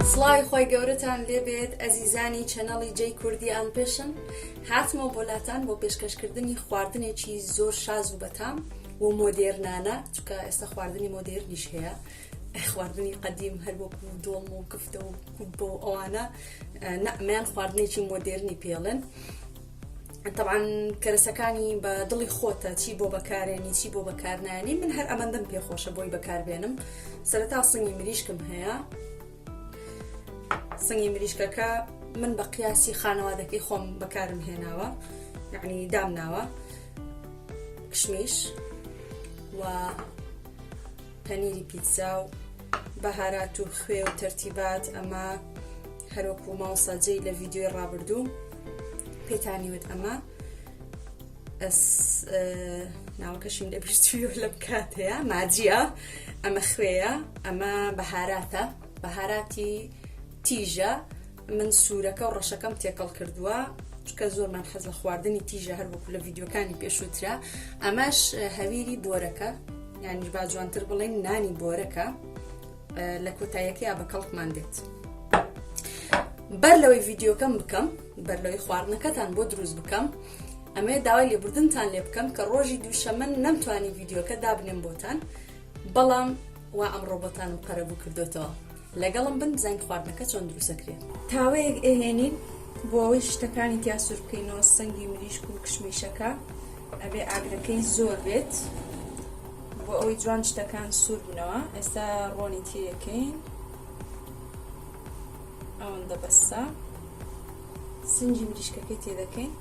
سڵاوی خۆی گەورەتان لێبێت ئەزیزانی چەنەڵی جەی کوردی ئان پێشن هاتمەوە بۆ لاتان بۆ پێشکەشکردنی خواردنێکی زۆر شاز و بەتام و مۆدێرنانە چکە ئێستا خواردنی مۆدێرنیش هەیە خواردنی قەدیم هەر بۆ دۆڵم و کفتە و کوبە و ئەوانە نەمیان خواردنێکی مۆدێرنی پێڵن تەبعەن کەرەسەکانی بە دڵی خۆتە چی بۆ بەکارێنی چی بۆ بەکارنانی من هەر ئەمەندەم پێخۆشە بۆی بەکاربێنم سەرتا سنگی مریشکم هەیە سنگی مریشکەکە من بە قیاسی خانەوادەکەی خۆم بەکارم هێناوە یعنی دامناوە کشمیش و پەنیری پیتزا و بەهارات و خوێ و تەرتیبات ئەمە هەروەکو ماوسا جێی لە ڤیددیوی ڕابردوو پێتانی وت ئەمە ناوەکەشیم لە بیرچوی لە بکات هەیە ماجیە ئەمە خوێە ئەمە بەهاراتە بەهاراتی تیژە من سورەکە و ڕەشەکەم تێکەڵ کردووە چکە زۆرمان حەز لە خواردنی تیژە هەر وەکو لە ڤیددیوکانی پێشووترا ئەمەش هەویری بۆرەکە یانی با جوانتر بڵێن نانی بۆرەکە لە کۆتایەکەیا بە کەڵکمان دێت بەر لەوەی ڤیددیوکەم بکەم بەر لەوەی خواردنەکەتان بۆ دروست بکەم ئەمێ داوای لێبوردنتان لێ بکەم کە ڕۆژی دووشەمە نەمتوانی ڤیددیوکە دابنێم بۆتان بەڵام وا ئەم ڕۆبەتانم قەرەبوو کردوێتەوە لەگەڵم بن بزانین خواردنەکە چۆن دروست ئەکرێ. تاوەیەک ئەهێنین بۆ ئەوەی شتەکانی تیا سور بکەینەوە سنگی مریشک و کشمیشەکە ئەبێ ئاگرەکەی زۆر بێت بۆ ئەوەی جوان شتەکان سور بنەوە ئێستا ڕۆنی تیرەکەین ئەوەندە بەسە سنگی مریشکەکەی تێ دەکەین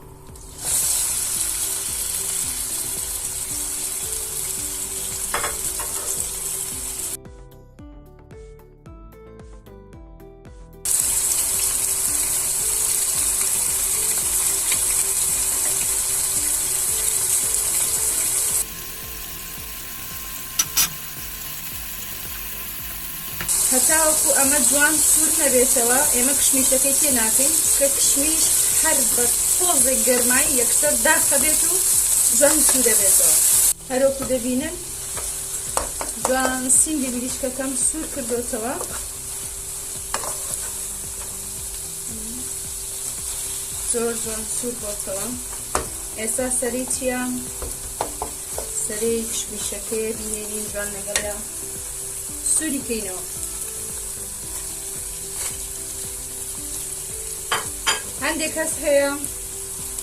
هەتاوەکو ئەمە جوان سوور نەبێتەوە ئێمە کشمیشەکەی تێ ناکەین کە کشمیش هەر بە تۆزێک گەرمایی یەکسەر داخەبێت و جوان سوو دەبێتەوە هەرۆکو دەبینن جوان سینگی مریشکەکەم سوور کردوتەوە زۆر جوان سوور بۆتەوە ئێستا سەری چییە سەری کشمیشەکەیە بینێرین جوان لەگەڵە سووری کەینەوە هەندێک کەس هەیە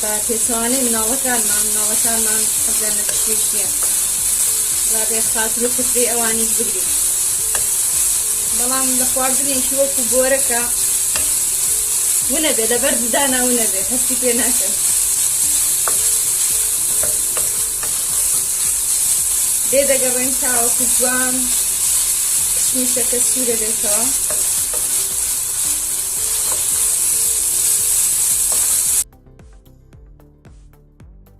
بە پێچەوانەی مناڵەکانمان مناڵەکانمان حەزیان لە پشتێکیە جابێ خاتر و کفری ئەوانیش بگری بەڵام لە خواردنێکی وەکو بۆرەکە ونەبێ لەبەر ددانا ونەبێ هەستی پێ ناکەن لێ دەگەڕێن تاوەکو جوان کشمیشەکە سوورە بێتەوە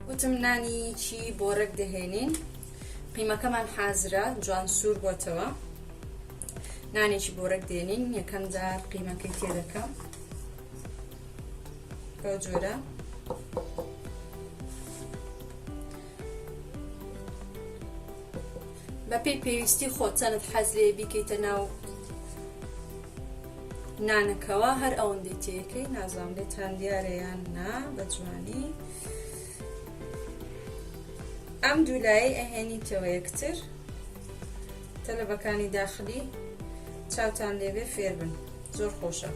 وتم نانی چی بۆرەک دەهێنین قیمەکەمان حازرە جوان سوور بۆتەوە نانێکی بۆرەک دێنین یەکەم جار قیمەکەی تێ دەکەم بەو جۆرە بەپێی پێویستی خۆت چەنت حەز لێ بیکەیتە ناو نانەکەوە هەر ئەوەندەی تێەکەی نازام لێتان دیارەیان نا بە جوانی ئەم دوولایی ئەهێنیتەوە یەکتر تەلەبەکانی داخلی چاوتان لێبێ فێربن زۆر خۆشە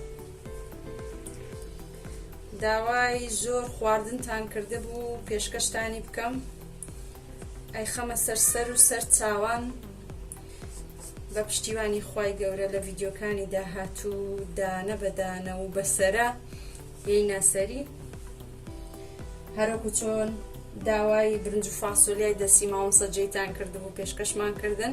داوای زۆر خواردنتان کردبوو پێشکەشتانی بکەم ئەیخەمە سەر سەر و سەر چاوان بە پشتیوانی خوای گەورە لە ڤیددیوکانی داهاتوو دانە بەدانە و بەسرە یەی ناسەری هەرەکو چۆن داوای برنج و فاسۆلیای دەسی ماوەسە جێتان کردبوو پێشکەشمان کردن.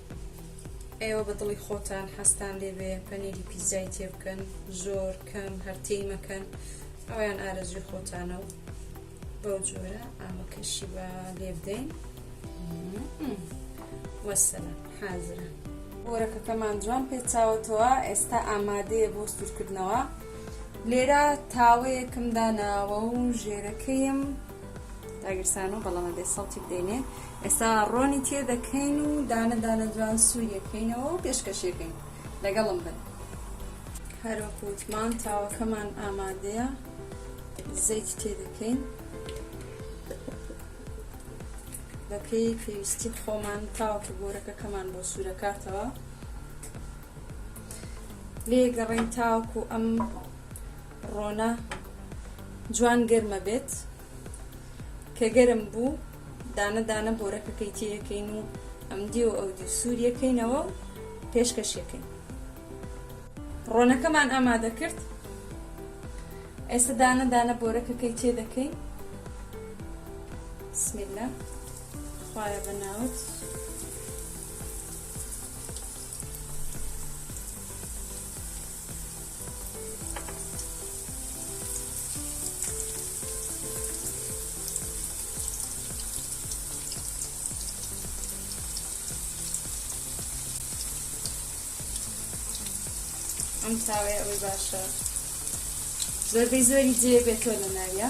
ئێوە بە دڵی خۆتان حەزتان لێبێ پەنیری پیزای تێ بکەن زۆر کەم هەر تێی مەکەن ئەویان ئارەزوی خۆتانە و بەو جۆرە ئامەکەشی بە لێ بدەین وەسەلە حازرە گۆرەکەکەمان جوان پێچاوەتەوە ئێستا ئامادەیە بۆ سوورکردنەوە لێرە تاوەیەکم داناوە و ژێرەکەیم داگیرسان و بەڵام بێ سەڵتی بدەینێ ئێستا ڕۆنی تێ دەکەین و دانە دانە جوان سووریەکەینەوە و پێشکەشێکەین لەگەڵم بن هەروەکوتمان تاوەکەمان ئامادەیە زەیت تێ دەکەین بەپێی پێویستی خۆمان تاوەکە گۆرەکەکەمان بۆ سوورەکاتەوە لێگەڕین تاوەکو ئەم ڕۆنە جوان گەرمە بێت کە گەرم بوو دانە دانە بۆرەکەکەی تێەکەین و ئەم دی و ئەو دی سووریەکەینەوە و پێشکەشەکەین ڕۆنەکەمان ئامادە کرد ئێستا دانە دانە بۆرەکەکەی تێ دەکەین بسمیلە خوایە بەناوت ئەم تاوەیە ئەوەی باشە زۆربەی زۆری جێ بێتەوە لە ناویە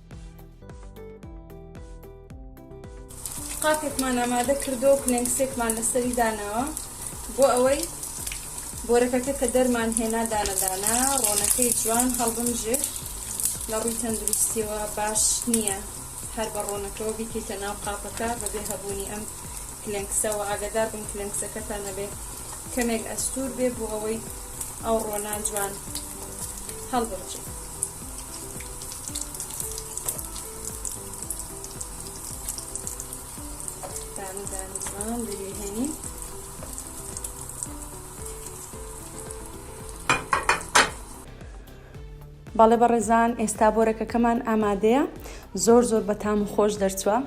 قاپێکمان ئامادە کردەوە کلێنکسێکمان لەسەری داناوە بۆ ئەوەی بۆرەکەکە کە دەرمان هێنا دانەدانە ڕۆنەکەی جوان هەڵبمژێ لە ڕووی تەندروستیەوە باش نییە هەر بە ڕۆنەکەەوە بیکەیتە ناو قاپەکە بەبێ هەبوونی ئەم کلێنکسەوە ئاگادار بن کلێنکسەکەتان نەبێ کەمێک ئەستور بێ بۆ ئەوەی ئەو ڕۆنا جوان هەڵبمژێ دانە دانەمان دەریێنین بەڵێ بە ڕێزان ئێستا بۆرەکەکەمان ئامادەیە زۆر زۆر بە تام و خۆش دەرچووە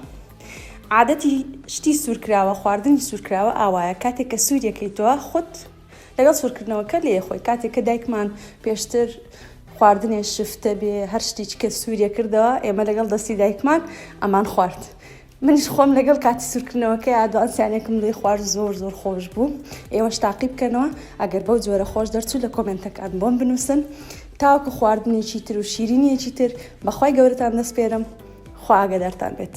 عادەتی شتی سوورکراوە خواردنی سوورکراوە ئاوایە کاتێک کە سووریەکەی تۆ خۆت لەگەڵ سورکردنەوەکە لێ خۆی کاتێک کە دایکمان پێشتر خواردنێ شفتە بێ هەر شتێکی کە سووریە کردەوە ئێمە لەگەڵ دەستی دایکمان ئەمان خوارد منیش خۆم لەگەڵ کاتی سوورکردنەوەکە یادوانسیانێکم لێ خوار زۆر زۆر خۆش بوو ئێوەش تاقی بکەنەوە ئەگەر بەو جۆرە خۆش دەرچوو لە کۆمنتەکان بۆم بنووسن تاوکو خواردنێکی تر و شیرینیەکی تر بەخوای گەورەتان دەستپێرم خواگە دەرتان بێت.